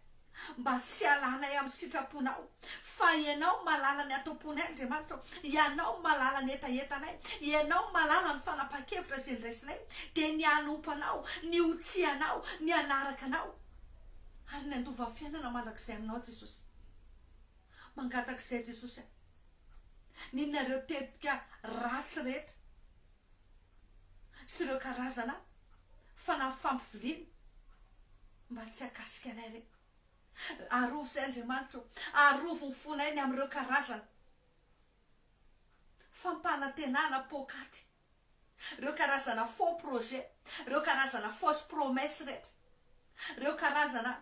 mba tsy hialanay amin'ny sitraponao. Fa Ianao no mahalala ny atomponay, Andriamanitra o. Ianao no mahalala ny hetahetanay. Ianao no mahalala ny fanapahan-kevitra izay niraisinay, dia ny hanompo Anao, ny ho tia Anao, ny hanaraka Anao, ary ny handova fiainana mandrakizay aminao, Jesosy. Mangatak'izay Jesosy a! Ninonareo tetika ratsy rehetra sy ireo karazana fanahy fampiviliana mba tsy hakasika anay re. Arovy izay Andriamanitra o! Arovy ny fonay ny amin'ireo karazana fampanantenana poakaty, ireo karazana faux projet, ireo karazana fausse promesse rehetra, ireo karazana.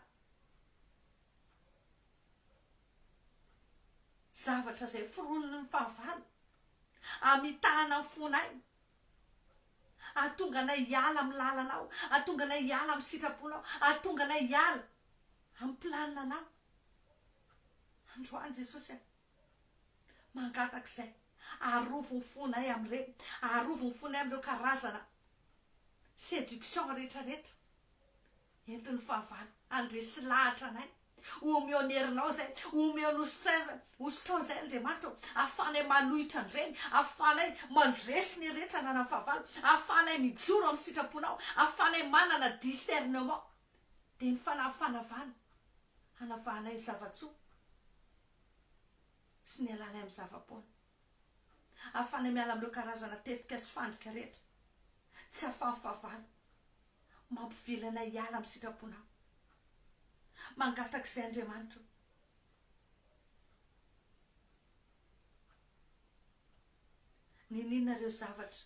Zavatra izay foroniny ny fahavalo, hamitahana ny fonay, hahatonga anay hiala amin'ny lalanao, hahatonga anay hiala amin'ny sitraponao, hahatonga anay hiala amin'ny planinanao. Androany Jesosy a, mangataka izay, arovy ny fonay amin'ireny, arovy ny fonay amin'ireo karazana séduction rehetrarehetra entin'ny fahavalo handresy lahatra anay. Omeon'herinao izay, omeon'ostreza, ostron izay Andriamanitra ô, ahafahanay manohitra an-dreny, ahafahanay mandresy ny rehetra ananan'ny fahavalo, ahafahanay mijoro amin'ny sitraponao, ahafahanay manana discernement, dia ny fanahy fanavahana hanavahanay ny zava-tsoa sy ny halanay amin'ny zava-poana, ahafahanay miala amin'ireo karazana tetika sy fandrika rehetra tsy ahafahan'ny fahavalo. mampivily anay hiala amin'ny sitraponao. Mangatak'izay Andriamanitro. Niniana ireo zavatra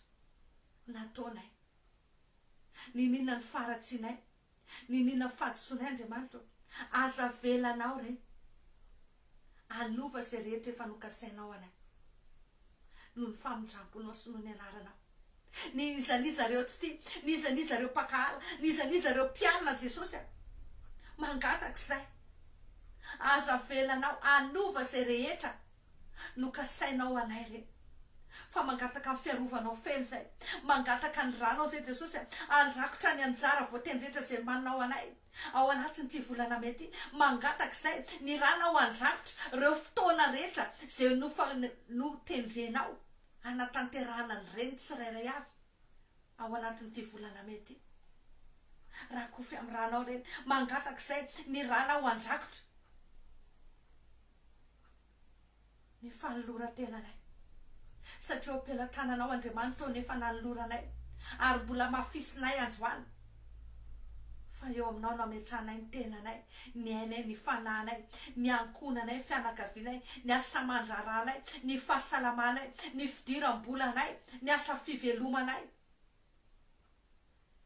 nataonay. Niniana ny faharatsianay. Niniana ny fahadisoanay Andriamanitro. Aza avelanao ireny. Hanova izay rehetra efa nokasainao anay, noho ny famindramponao sy noho ny anaranao. N'iza n'iza ireo tsy tia, n'iza n'iza ireo mpankahala, n'iza n'iza ireo mpialona an'i Jesosy an, mangataka izay, aza avelanao hanova izay rehetra nokasainao anay re. Fa mangataka ny fiarovanao feno izay, mangataka ny ranao izay Jesosy an, handrakotra ny anjara voatendry rehetra izay manao anay. Ao anatin'ity volana mey ity, mangatak'izay ny ranao handrakotra ireo fotoana rehetra izay notendrenao hanatanterahana ny reny tsirairay avy ao anatin'ity volana mey ity. Rakofy amin'ny ranao ireny, mangatak'izay ny ranao handrakotra. ny fanoloran-tenanay, satria eo am-pelatananao, Andriamanitra ô, ny efa nanoloranay, ary mbola hamafisinay androany, fa eo aminao no ametrahanay ny tenanay, ny ainay, ny fanahinay, ny ankohonanay, ny fianakavianay, ny asa aman-draharahanay, ny fahasalamanay, ny fidiram-bolanay, ny asa fivelomanay.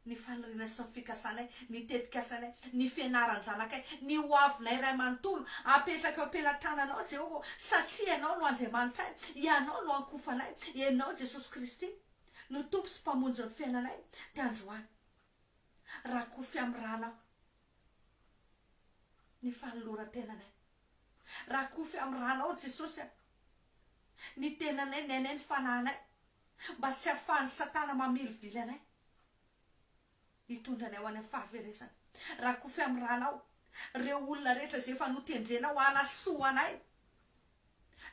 ny faniriana sy ny fikasanay, ny tetikasanay, ny fianaran-janakay, ny hoavinay iray manontolo, apetraka eo am-pelatananao, Jehovah ô, satria ianao no Andriamanitray, ianao no ankofanay, ianao, Jesosy Kristy, no Tompo sy Mpamonjin'ny fiainanay, dia androany, rakofy amin'ny ranao ny fanoloran-tenanay, rakofy amin'ny ranao, Jesosy a, ny tenanay, ny ainay, ny fanahinay. mba tsy hahafahan'i Satana mamirivily anay hitondra anay ho any amin'ny fahaverezana. Rakofy amin'ny rànao ireo olona rehetra izay efa notendrenao hanasoa anay.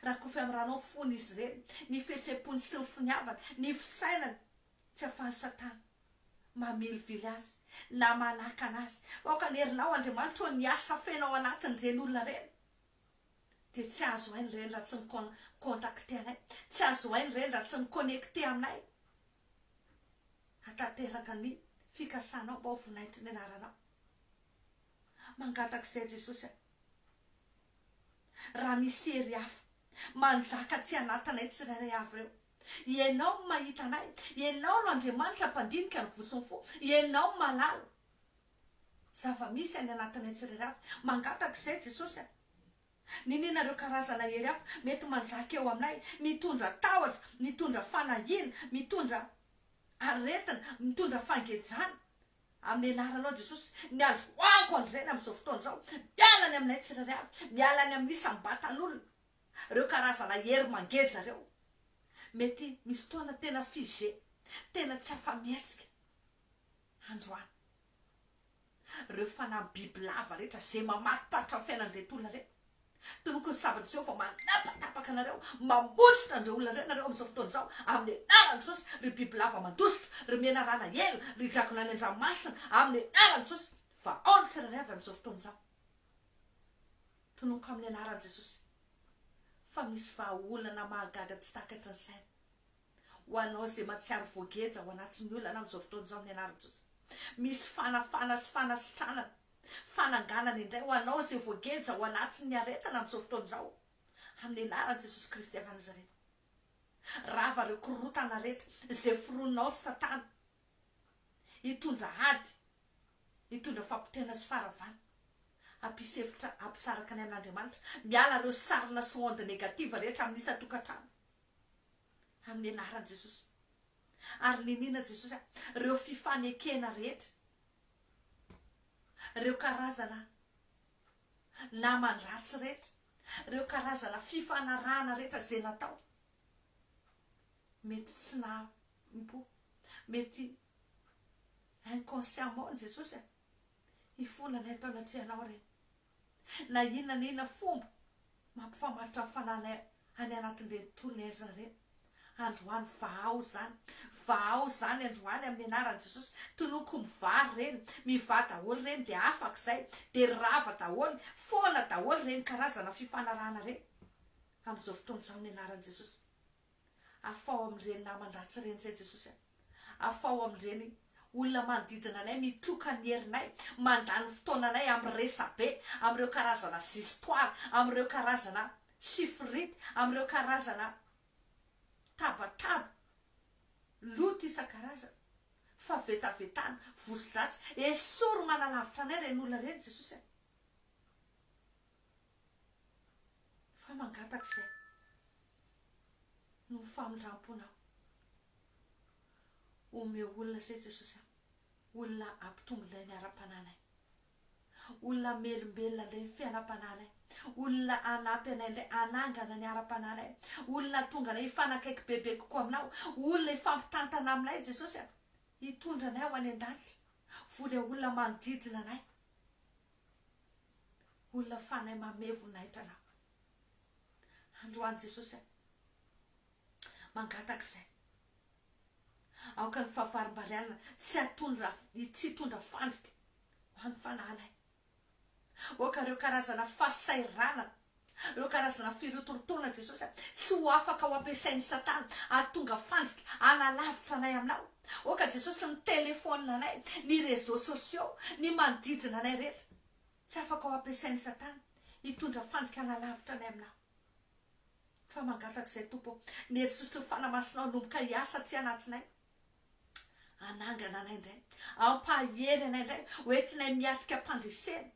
Rakofy amin'ny rànao ny fon'izy ireny, ny fihetseham-pony sy ny finiavany, ny fisainany, tsy hahafahan'i Satana mamirivily azy na manakana azy. Fa aoka ny herinao, Andriamanitra ô, ny asa afenao anatin'ireny olona ireny. dia tsy azo hainy ireny raha tsy mi-contacter anay, tsy azo hainy ireny raha tsy mi-connecter aminay hatanteraka ny fikasanao mba ho vinainto ny anaranao. Mangataka izay Jesosy a! Raha misy hery hafa manjaka aty anatinay tsirairay avy ireo, Ianao no mahita anay, Ianao no Andriamanitra mpandinika ny voso ny fo, Ianao no mahalala, Zava-misy any anatinay tsirairay avy. Mangataka izay Jesosy a! Niniana ireo karazana hery hafa mety manjaka eo aminay, mitondra tahotra, mitondra fanahiana, mitondra aretina, mitondra fangejana. Amin'ny anaranao Jesosy, ny androaniko andreny amin'izao fotoana izao, miala any aminay tsirairay avy, miala any amin'ny isam-batan'olona ireo karazana hery mangeja ireo. Mety misy fotoana tena figé, tena tsy afa-mihetsika. androany. Ireo fanahy bibilava rehetra izay mamaripatra ny fiainan'ireto olona ireto, toloky ny sabatra izao fa manapatapaka anareo, mamositra an'ireo olona ireo ianareo amin'izao fotoana izao, amin'ny anaran'i Jesosy, ry bibilava mandositra, ry menarana ela, ry dragona any an-dranomasina, amin'ny anaran'i Jesosy, fa ao ny tsirairay avy amin'izao fotoana izao. Tononiko amin'ny anaran'i Jesosy fa misy vahaolana mahagaga tsy takatry ny saina, Ho anao izay mahatsiaro voageja ao anatin'ny olana amin'izao fotoana izao amin'ny anaran'i Jesosy. Misy fanafana sy fanasitranana, fananganana indray ho anao izay voageja ao anatin'ny aretana amin'izao fotoana izao amin'ny anaran'i Jesosy Kristy avy any Nazareta. Rava ireo korontana rehetra izay foroninao ry Satana hitondra ady, hitondra fahapotehana sy faharavana. Hampisy hevitra hampisaraka ny an'Andriamanitra. Miala ireo sarina sy onde negative rehetra amin'ny isan-tokantrano. amin'ny anaran'i Jesosy. Ary niniana Jesosy hoe ireo fifanekena rehetra, ireo karazana naman-dratsy rehetra, ireo karazana fifanarahana rehetra izay natao, mety tsy nahampo, mety inconsciemment ny Jesosy e, hifona ilay tao anatrehanao re. na inona na inona fomba mampifamaritra ny fanahinay any anatin'ireny tolona aizina ireny. Androany vahao izany. Vahao izany androany amin'ny anaran'i Jesosy. Tonoko mivary ireny. Mivà daholo ireny dia afaka izay. Dia rava daholo. Foana daholo ireny karazana fifanarahana ireny. Amin'izao fotoana izao amin'ny anaran'i Jesosy. Afaho amin'ireny naman-dratsy ireny izay Jesosy a! Afaho amin'ireny olona manodidina anay mitroka ny herinay, mandany fotoananay amin'ny resa-be, amin'ireo karazana zisitoara, amin'ireo karazana sifirity, amin'ireo karazana tabataba, loto isan-karazany, fa vetavetana, vozodratsy. Esory manalavitra anay ireny olona ireny Jesosy a! Fa mangataka izay no famindramponao. Omeo olona izay Jesosy a. Olona hampitombo indray ny ara-panahinay. Olona hamelombelona indray ny fiainam-panahinay. Olona hanampy anay indray hanangana ny ara-panahinay. Olona hahatonga anay hifanakaiky bebe kokoa aminao. Olona hifampitantana aminay Jesosy a. Hitondra anay ho any an-danitra. Voa ilay olona manodidina anay. Olona fanahy mamehy voninahitra anao androany Jesosy a! Mangataka izay aoka ny fahavarimbarianana tsy hatondra tsy hitondra fandrika ho an'ny fanahinay. Aoka ireo karazana fahasahiranana Ireo karazana firotorotoana Jesosy tsy ho afaka ho ampiasain'i Satana hahatonga fandrika hanalavitra anay aminao. Aoka Jesosy ny telefaonina anay, ny réseaux sociaux, ny manodidina anay rehetra tsy afaka ho ampiasain'i Satana hitondra fandrika hanalavitra anay aminao. Fa mangataka izay Tompo ô, ny herisotrony fanamasinao hanomboka hiasa aty anatinainy. Hanangana anay indray, hampahery anay indray, ho entinay miatrika am-pandresena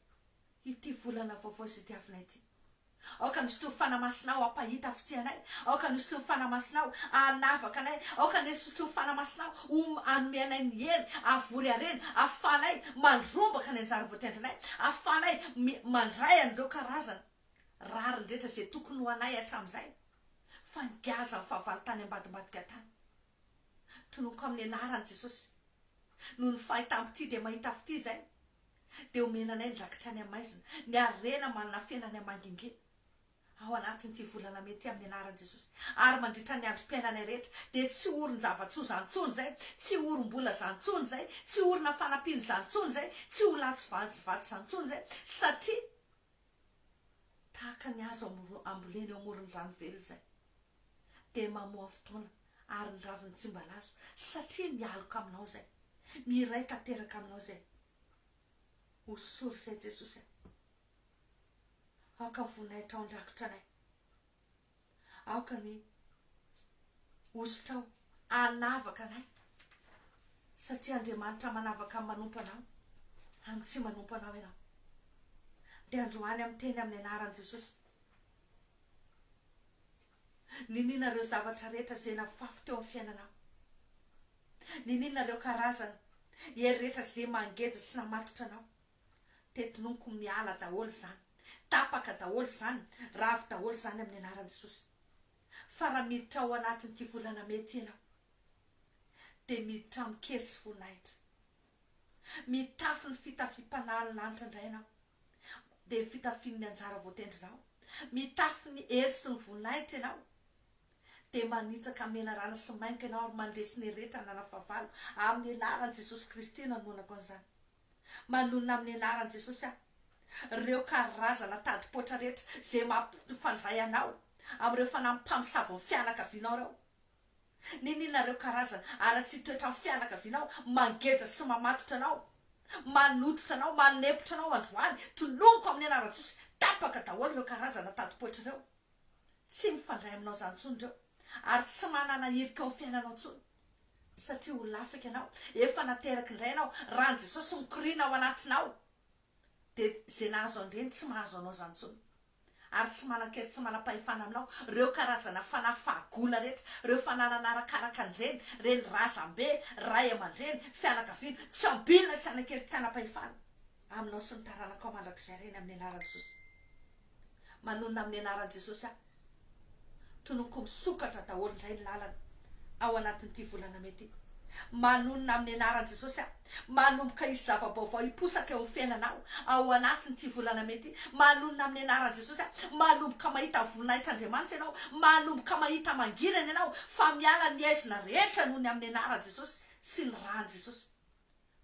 ity volana vaovao izay diavinay ity. Aoka ny zoton'ny Fanahy Masinao hampahita fitia anay, aoka ny zoton'ny Fanahy Masinao hanavaka anay, aoka ny zoton'ny Fanahy Masinao ho hanome anay ny hery havory harena, hahafahanay mandrombaka ny anjara voatendrinay, hahafahanay mandray an'ireo karazana rariny rehetra izay tokony ho anay hatramin'izay fa ngiazan'ny fahavalo tany ambadimbadika tany. Tononiko amin'ny anaran'i Jesosy. Noho ny fahitam fitia dia mahita fitia izay. Dia omena anay ny rakitra any amaizina, ny harena manana fena any amangingina. Ao anatin'ity volana mey ity amin'ny anaran'i Jesosy. Ary mandritra ny androm-piainanay rehetra, dia tsy orin-java-tsoa izany intsony izay, tsy orim-bola izany intsony izay, tsy orina fanampiana izany intsony izay, tsy ho latsy vatsy izany intsony izay, satria. tahaka ny hazo ambolena eo amoron'ny rano velona izay, dia mamoa fotoana, ary ny raviny tsy mba lazo, satria mialoka aminao izay, miray tanteraka aminao izay. Hosory izay Jesosy a! Aoka ho voninahitra ao an-drakitra anay. Aoka ny hositrao hanavaka anay, satria Andriamanitra manavaka ny manompo Anao, amin'ny tsy manompo Anao ianao. Dia androany amin'ny teny amin'ny anaran'i Jesosy, niniana ireo zavatra rehetra izay nafafy teo amin'ny fiainanao, niniana ireo karazana hery rehetra izay mangeja sy namatotra anao. Tetiloniko miala daholo izany, tapaka daholo izany, ravo daholo izany amin'ny anaran'i Jesosy. Fa raha miditra ao anatin'ity volana mey ity ianao, dia miditra amin-kery sy voninahitra. Mitafy ny fitafiam-panahin'ny lanitra indray ianao, dia ny fitafian'ny anjara voatendrinao. Mitafy ny hery sy ny voninahitra ianao, dia manitsaka menarana sy mainka ianao ary mandresy ny rehetra nanana fahavalo, amin'ny anaran'i Jesosy Kristy no anoanako an'izany. Manonona amin'ny anaran'i Jesosy aho ireo karazana tadi-poitra rehetra izay mampifandray anao amin'ireo fanahy mpamosavon'ny fianakavianao ireo. Niniana ireo karazana haratsian'ny toetran'ny fianakavianao mangeja sy mamatotra anao, manototra anao, manempotra anao androany. Tolomiko amin'ny anaran'i Jesosy, tapaka daholo ireo karazana tadi-poitra ireo. Tsy mifandray aminao izany intsony ireo ary tsy manana hirika ao amin'ny fiainanao intsony. Satria ho lasa ianao, efa naterak' indray ianao, raha an'i Jesosy mikoriana ao anatinao, dia izay nahazo an-dreny tsy mahazo anao izany intsony, ary tsy manan-kery tsy manam-pahefana aminao, ireo karazana fanahy fahagola rehetra, ireo fananana arakaraka an-dreny, reny, razambe, ray aman-dreny, fianakaviana, tsy ambilona tsy hanan-kery tsy hanam-pahefana aminao sy ny taranakao mandrakizay ireny amin'ny anaran'i Jesosy. Manonona amin'ny anaran'i Jesosy aho. Tononiko misokatra daholo indray ny lalana ao anatin'ity volana mey ity. Manonona amin'ny anaran'i Jesosy aho. Manomboka hisy zava-baovao hiposaka eo amin'ny fiainanao ao anatin'ity volana mey ity. Manonona amin'ny anaran'i Jesosy aho. Manomboka mahita voninahitr'Andriamanitra ianao. Manomboka mahita mangirana ianao fa miala ny aizina rehetra noho ny amin'ny anaran'i Jesosy sy ny ran'i Jesosy.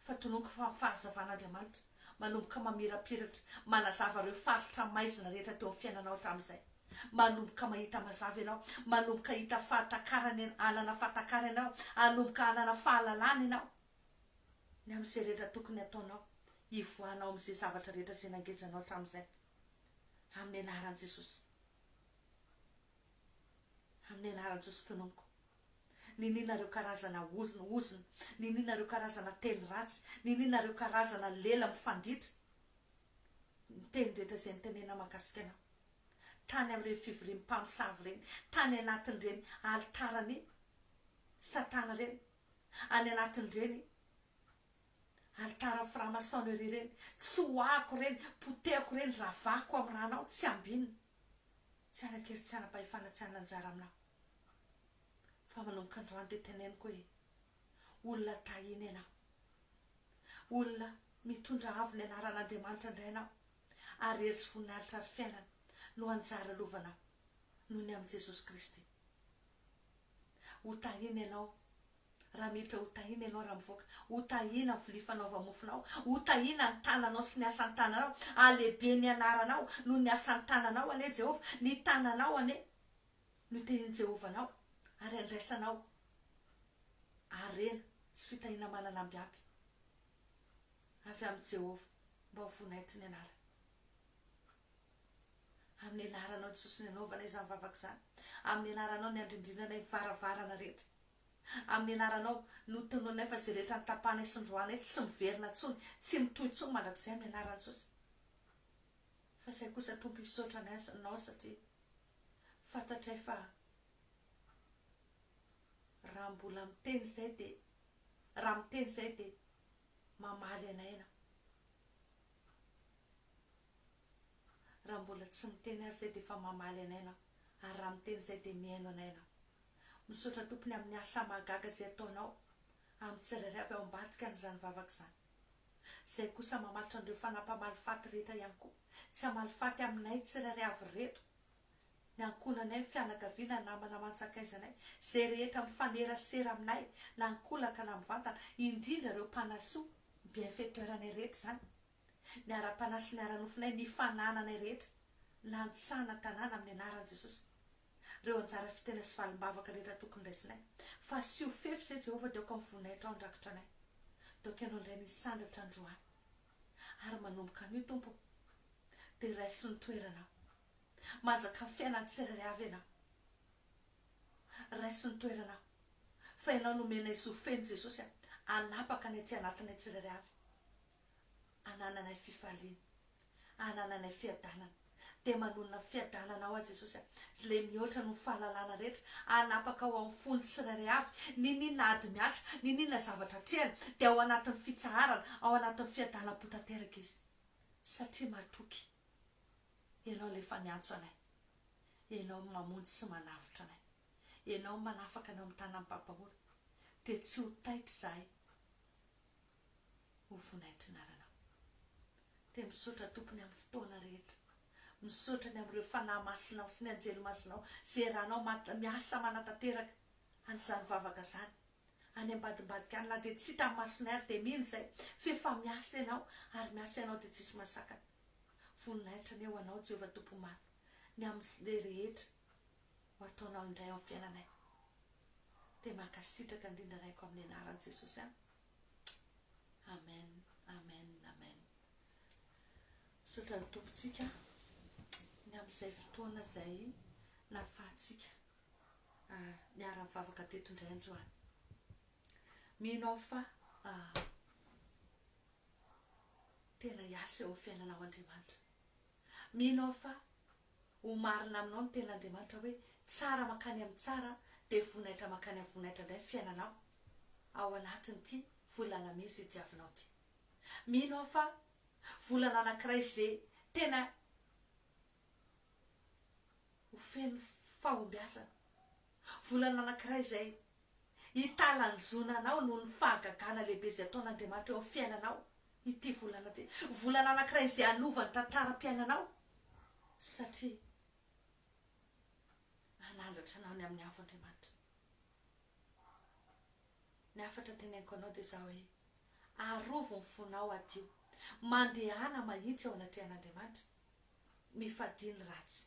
fa tononiko fa fahazavan'Andriamanitra manomboka mamirapiratra manazava ireo faritra maizina rehetra teo amin'ny fiainanao hatramin'izay. Manomboka mahita mazava ianao, manomboka hahita fahatakarana ianao, hanana fahatakarana ianao, hanomboka hanana fahalalana ianao ny amin'izay rehetra tokony hataonao hivoahanao amin'izay zavatra rehetra izay nangejanao hatramin'izay. Amin'ny anaran'i Jesosy. Amin'ny anaran'i Jesosy tononiko Niniana ireo karazana ozona ozona, niniana ireo karazana teny ratsy, niniana ireo karazana lela mifanditra ny teny rehetra izay nitenenina mahakasika anao. Tany amin'ireny fivorian'ny mpamosavy ireny, tany anatin'ireny alitaran'i Satana ireny, any anatin'ireny alitaran'ny franc-maçonnerie ireny, tsoahiko ireny, potehiko ireny, ravako amin'ny rànao tsy ambinina. Tsy hanan-kery tsy hanam-pahefana tsy hanana anjara aminà fa manomboka androany dia teneniko hoe olona tahina ianao. Olona mitondra avo ny anaran'Andriamanitra indray ianao ary hery sy voninahitra ary fiainana no anjara lovanao noho ny amin'i Jesosy Kristy. Ho tahina ianao Raha miditra ho tahiana ianao, raha mivoaka, ho tahiana ny vilia fanaova-mofonao, ho tahiana ny tananao sy ny asan-tananao, halehibe ny anaranao noho ny asan-tananao anie Jehovah, ny tananao anie no itahian'i Jehovah anao, ary handraisanao harena sy fitahiana manana ambiampy avy amin'i Jehovah, mba ho voninahitry ny anarany. Amin'ny anaranao ny sosony hanaovana izany vavaka izany, amin'ny anaranao ny handrindrinana ny varavarana rehetra. Amin'ny anaranao, notononinay fa izay rehetra notapahanay sy noroahanay tsy miverina intsony, tsy mitohy intsony mandrakizay amin'ny anaran'i Jesosy. Fa izay kosa Tompo hisaotra anay Ianao satria fantatray fa raha mbola miteny izay dia raha miteny izay dia mamaly anay Ianao. Raha mbola tsy miteny ary izay dia efa mamaly anay Ianao ary raha miteny izay dia mihaino anay Ianao. Misaotra tompony amin'ny asa mahagaga izay ataonao amin'ny tsirairay avy ao ambadika an'izany vavaka izany. Izay kosa mamaritra an'ireo fanahy mpamaly faty rehetra ihany koa, tsy hamaly faty aminay tsirairay avy ireto, ny ankohonanay, ny fianakaviana, ny namana aman-tsakaizanay, izay rehetra mifanerasera aminay na an-kolaka na mivantana, indrindra ireo mpanahy soa, ny bienfaitoiranay rehetra izany, ny ara-panahy sy ny ara-nofonay, ny fanananay rehetra, ny lahatsana an-tanàna amin'ny anaran'i Jesosy. reo anjara fitena sy valimbavaka rehetra tokony raisinay fa asio fefy izay Jehovah dia aoka mivoa naitra ao andrakitra anay dia aoka ianao indray misandratra androany ary manomboka anio Tompo o dia raiso ny toeranao manjaka amin'ny fiainan'ny tsirairay avy ianao raiso ny toeranao fa ianao no omenay zo feno Jesosy a hanapaka ny aty anatinay tsirairay avy hanananay fifaliana, hanananay fiadanana. Dia manonona ny fiadananao aho Jesosy a, Ilay mihoatra noho ny fahalalana rehetra, hanapaka ao amin'ny fon'ny tsirairay avy, n'inon'inona ady mihatra, n'inon'inona zavatra atrehina, dia ao anatin'ny fitsaharana, ao anatin'ny fiadanam-po tanteraka izy. Satria matoky, Ianao ilay efa niantso anay, Ianao no mamonjy sy manavotra anay, Ianao no manafaka anay ao amin'ny tanan'ny mpampahora, dia tsy ho taitra izahay. ho vonaitrin'aranao dia misaotra tompony amin'ny fotoana rehetra misaotra ny amin'ireo fanahy masinao sy ny anjely masinao izay eranao mat miasa manatanteraka an'izany vavaka izany any ambadimbadika any na dia tsy hita ny masonay ary dia mino izay f'efa miasa ianao ary miasa ianao dia tsisy masakana voninahitra anie ho anao Jehovah Tompo Maro ny amin'izay rehetra ho ataonao indray ao amin'ny fiainanay dia mankasitraka indrindra Raiko amin'ny anaran'i Jesosy an. Amen Amen Amen Misaotra ny Tompontsika ny amin'izay fotoana izay nahafahantsika niara nivavaka teto indray androany mino aho fa tena hiasa eo amin'ny fiainanao Andriamanitra Mino aho fa ho marina aminao ny tenin'Andriamanitra hoe, tsara mankany amin'ny tsara dia vonaitra mankany amin'ny vonaitra indray ny fiainanao ao anatin'ity volana mey izay diavinao ity. Mino aho fa volana anankiray izay tena ho feno fahombiazana. Volana anankiray izay hitalanjona anao noho ny fahagagana lehibe izay ataon'Andriamanitra eo amin'ny fiainanao ity volana ity. Volana anankiray izay hanova ny tantaram-piainanao satria hanandratra anao ny amin'ny hafa Andriamanitra. Ny hafatra teneniko anao dia izao hoe, arovy ny fonao, hadio, mandehana mahitsy eo anatrehan'Andriamanitra, mifadia ny ratsy.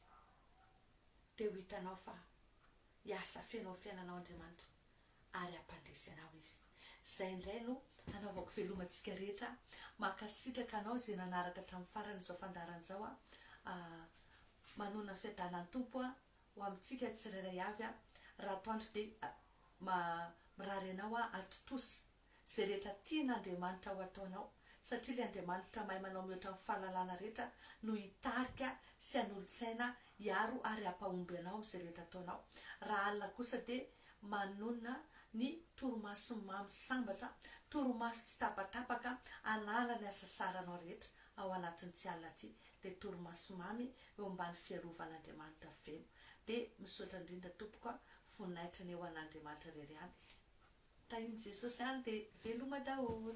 Dia ho hitanao fa Hiasa feno amin'ny fiainanao Andriamanitra ary hampandresy anao Izy. Izay indray no hanaovako velomantsika rehetra. Mankasitraka anao izay nanaraka hatramin'ny farany izao fandaharana izao a. Manonona fiadanan'ny Tompo a ho amintsika tsirairay avy a. Ratoandro dia mirary anao aho ary tontosa izay rehetra tian' Andriamanitra ho ataonao, satria ilay Andriamanitra mahay manao mihoatra ny fahalalana rehetra no hitarika sy hanolo-tsaina hiaro ary hampahomby anao amin'izay rehetra ataonao. Raha alina kosa dia manonona ny torimaso mamy sambatra, torimaso tsy tapatapaka hanala ny hasasaranao rehetra ao anatin'ity alina ity, dia torimaso mamy eo ambany fiarovan' Andriamanitra feno. Dia misaotra indrindra tompoko a, voninahitra anie ho an' Andriamanitra irery ihany e. Tahin'i Jesosy any dia veloma daholo.